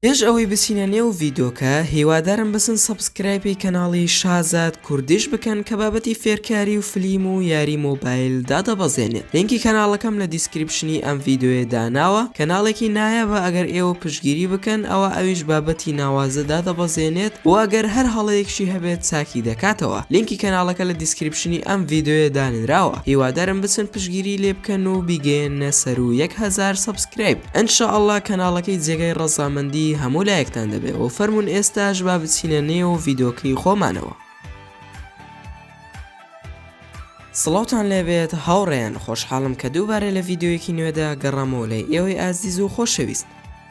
پێش ئەوەی بچینە نێو ڤیدۆکە هیوادارم بەسن سەبسکرایپی کەناڵی شازاد کوردیش بکەن کە بابەتی فێرکاری و فلیم و یاری مۆبایل دادەبەزێنێت لینکی کەناڵەکەم لە دیسکریپشنی ئەم ڤیدۆیە داناوە کەناڵێکی نایابە ئەگەر ئێوە پشگیری بکەن ئەوە ئەویش بابەتی ناوازە دادەبەزێنێت و ئەگەر هەر هەڵەیەکشی هەبێت چاکی دەکاتەوە لینکی کەناڵەکە لە دیسکریپشنی ئەم ڤیدۆیە دانراوە هیوادارم بچن پشگیری لێ بکەن و بیگەێنە سەر و یەک هزار سەبسکرایب ان شاء اللە کەناڵەکەی جێگای ڕەزامەندی هەموو لایەکتان دەبێ و فەرموون ئێستاش با بچینە نێو ڤیدۆکەی خۆمانەوە. سڵاوتان لێبێت هاوڕێیان خۆشحاڵم کە دووبارە لە ڤیدیۆیەکی نوێدا گەڕامەوە لای ئێوەی ئازیز و خۆشەویست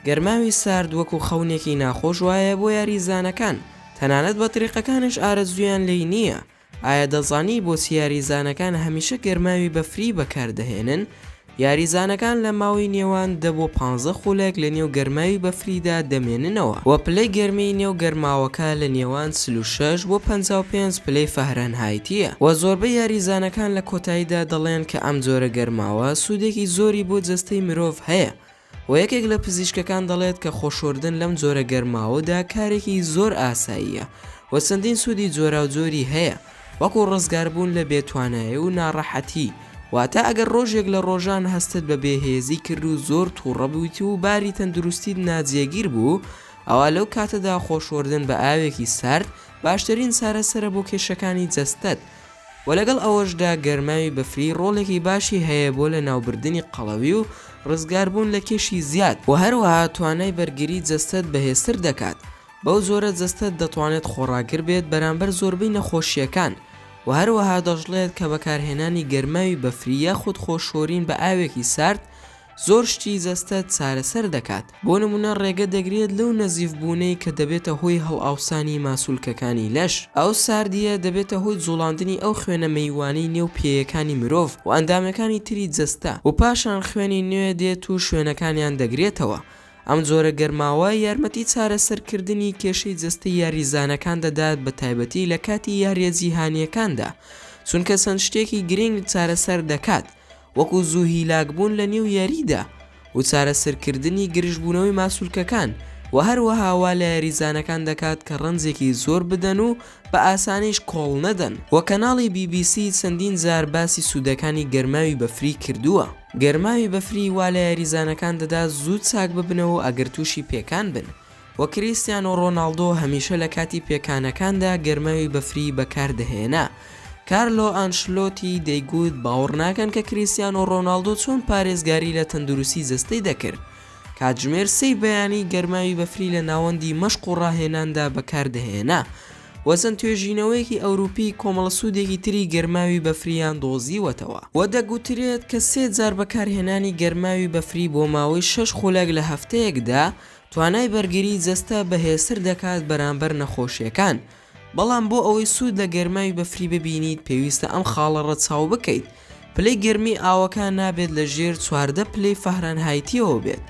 گەرماوی سارد وەکو خەونێکی ناخۆش وایە بۆ یاریزانەکان تەنانەت بەتریقەکانیش ئارەزوویان لێی نییە ئایا دەزانی بۆچی یاریزانەکان هەمیشە گەرماوی بەفری بەکاردەهێنن؟ یاریزانەکان لە ماوەی نێوان دە بۆ پانزە خولەک لە نێو گەرماوی بەفریدا دەمێننەوە و پلەی گەرمیی نێو گەرماوەکە لە نێوان چل و شەش بۆ پەنجا و پێنج پلەی فاهرەنهایتییە و زۆربەی یاریزانەکان لە کۆتاییدا دەڵێن کە ئەم جۆرە گەرماوە سوودێکی زۆری بۆ جەستەی مرۆڤ هەیە و یەکێک لە پزیشکەکان دەڵێت کە خۆشۆردن لەم جۆرە گەرماوەدا کارێکی زۆر ئاساییە و چەندین سوودی جۆراوجۆری هەیە وەکو ڕزگاربوون لە بێتوانایی و ناڕەحەتی واتە ئەگەر ڕۆژێک لە ڕۆژان هەستت بە بێهێزی کرد و زۆر توڕە بوویت و باری تەندروستیت ناجێگیر بوو ئەوا لەو کاتەدا خۆشۆردن بە ئاوێکی سارد باشترین چارەسەرە بۆ کێشەکانی جەستەت و لەگەڵ ئەوەشدا گەرماوی بەفری ڕۆڵێکی باشی هەیە بۆ لەناوبردنی قەڵەوی و ڕزگاربوون لە کێشی زیاد و هەروەها توانای بەرگری جەستەت بەهێزتر دەکات، بەو جۆرە جەستەت دەتوانێت خۆڕاگر بێت بەرامبەر زۆربەی نەخۆشییەکان، و هەروەها دەشڵێت کە بەکارهێنانی گەرماوی بەفری یاخود خۆشۆرین بە ئاوێکی سارد زۆر شتی جەستەت چارەسەر دەکات، بۆ نموونە ڕێگە دەگرێت لەو نەزیف بوونەی کە دەبێتە هۆی هەڵئاوسانی ماسولکەکانی لەش، ئەو ساردییە دەبێتە هۆی جوڵاندنی ئەو خوێنە مەیوانەی نێو پێیەکانی مرۆڤ و ئەندامەکانی تری جەستە و پاشان خوێنی نوێ دێت و شوێنەکانیان دەگرێتەوە، ئەم جۆرە گەرماوە یارمەتی چارەسەرکردنی کێشەی جەستەی یاریزانەکان دەدات بە تایبەتی لە کاتی یارییە جیهانییەکاندا چونکە چەند شتێکی گرنگ چارەسەر دەکات وەکو زوو هیلاکبوون لە نێو یاریدا و چارەسەرکردنی گرژبوونەوەی ماسولکەکان و هەروەها وا لە یاریزانەکان دەکات کە ڕەنجێکی زۆر بدەن و بە ئاسانیش کۆڵ نەدەن و کەناڵی بی بی سی چەندین جار باسی سوودەکانی گەرماوی بەفری کردووە. گەرماوی بەفری وا لە یاریزانەکان دەدات زوو چاک ببنەوە و ئەگەر تووشی پێکان بن، و کریستیانۆ ڕۆناڵدۆ هەمیشە لە کاتی پێکانەکاندا گەرماوی بەفری بەکاردەهێنا. کارلۆ ئانشلۆتی دەیگوت باوەڕ ناکەن کە کریستیانۆ ڕۆناڵدۆ چۆن پارێزگاری لە تەندروستی جەستەی دەکرد، کاتژمێر سێی بەیانی گەرماوی بەفری لە ناوەندی مەشق و ڕاهێناندا بەکاردەهێنا و چەند توێژینەوەیەکی ئەوروپی کۆمەڵە سوودێکی تری گەرماوی بەفریان دۆزیوەتەوە و دەگوترێت کە سێ جار بەکارهێنانی گەرماوی بەفری بۆ ماوەی شەش خولەک لە هەفتەیەکدا توانای بەرگریی جەستە بەهێزتر دەکات بەرامبەر نەخۆشییەکان، بەڵام بۆ ئەوەی سوود لە گەرماوی بەفری ببینیت پێویستە ئەم خاڵە ڕەچاو بکەیت، پلەی گەرمی ئاوەکە نابێت لە ژێر چواردە پلەی فاهرەنهایتییەوە بێت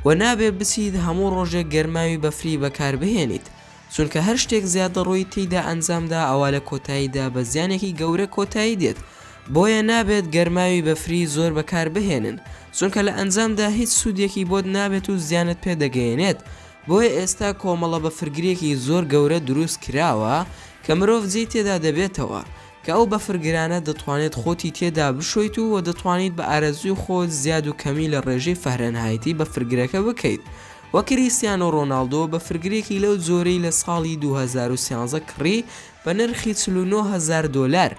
و نابێت بچیت هەموو ڕۆژێک گەرماوی بەفری بەکاربهێنیت، چونکە هەر شتێک زیادەڕۆیی تێیدا ئەنجامدا ئەوا لە کۆتاییدا بە زیانێکی گەورە کۆتایی دێت، بۆیە نابێت گەرماوی بەفری زۆر بەکاربهێنن چونکە لە ئەنجامدا هیچ سوودێکی بۆت نابێت و زیانت پێ دەگەیەنێت، بۆیە ئێستا کۆمەڵە بەفرگرێکی زۆر گەورە دروست کراوە کە مرۆڤ جێی تێدا دەبێتەوە کە ئەو بەفرگرانە دەتوانێت خۆتی تێدا بشۆیت و وە دەتوانیت بە ئارەزووی خۆت زیاد و کەمی لە ڕێژەی فەهرەنهایتی بەفرگرەکە بکەیت و کریستیانۆ ڕۆناڵدۆ بەفرگرێکی لەو جۆرەی لە ساڵی دوو هەزار و سیانزە کڕی بە نرخی چل و نۆ هەزار دۆلار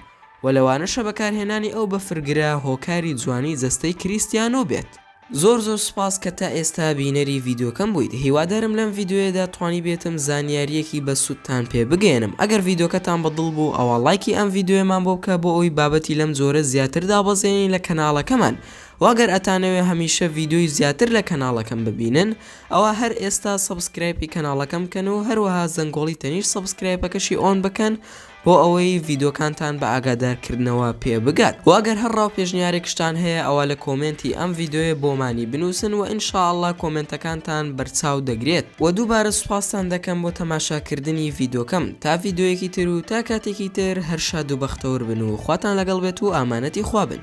و لەوانەشە بەکارهێنانی ئەو بەفرگرە هۆکاری جوانی جەستەی کریستیانۆ بێت. زۆر زۆر سوپاس کە تا ئێستا بینەری ڤیدۆکەم بوویت هیوادارم لەم ڤیدۆیەدا توانیبێتم زانیاریەکی بە سودتان پێ بگەیەنم ئەگەر ڤیدۆکەتان بە دڵ بوو ئەوا ڵایکی ئەم ڤیدۆیەمان بۆ بکە بۆ ئەوی بابەتی لەم جۆرە زیاتر دابەزێنین لە کەناڵەکەمان وە گەر ئەتانەوێ هەمیشە ڤیدۆی زیاتر لە کەناڵەکەم ببینن ئەوا هەر ئێستا سەبسکرایپی کەناڵەکەم بکەن و هەروەها زەنگۆڵی تەنیشت سەبسکرایپەکەشی ئۆن بکەن بۆ ئەوەی ڤیدۆکانتان بە ئاگادار کردنەوە پێ بگات وە گەر هەر ڕاو پێشنیارێکشتان هەیە ئەوا لە کۆمێنتی ئەم ڤیدۆیە بۆمانی بنوسن وە ان شاء اللە کۆمێنتەکانتان بەرچاو دەگرێت وە دووبارە سوپاستان دەکەم بۆ تەماشا کردنی ڤیدۆکەم. تا ڤیدۆیەکی تر و تا کاتێکی تر هەر شاد و بەختەور بن و خواتان لەگەڵ بێت و ئامانەتی خوا بن.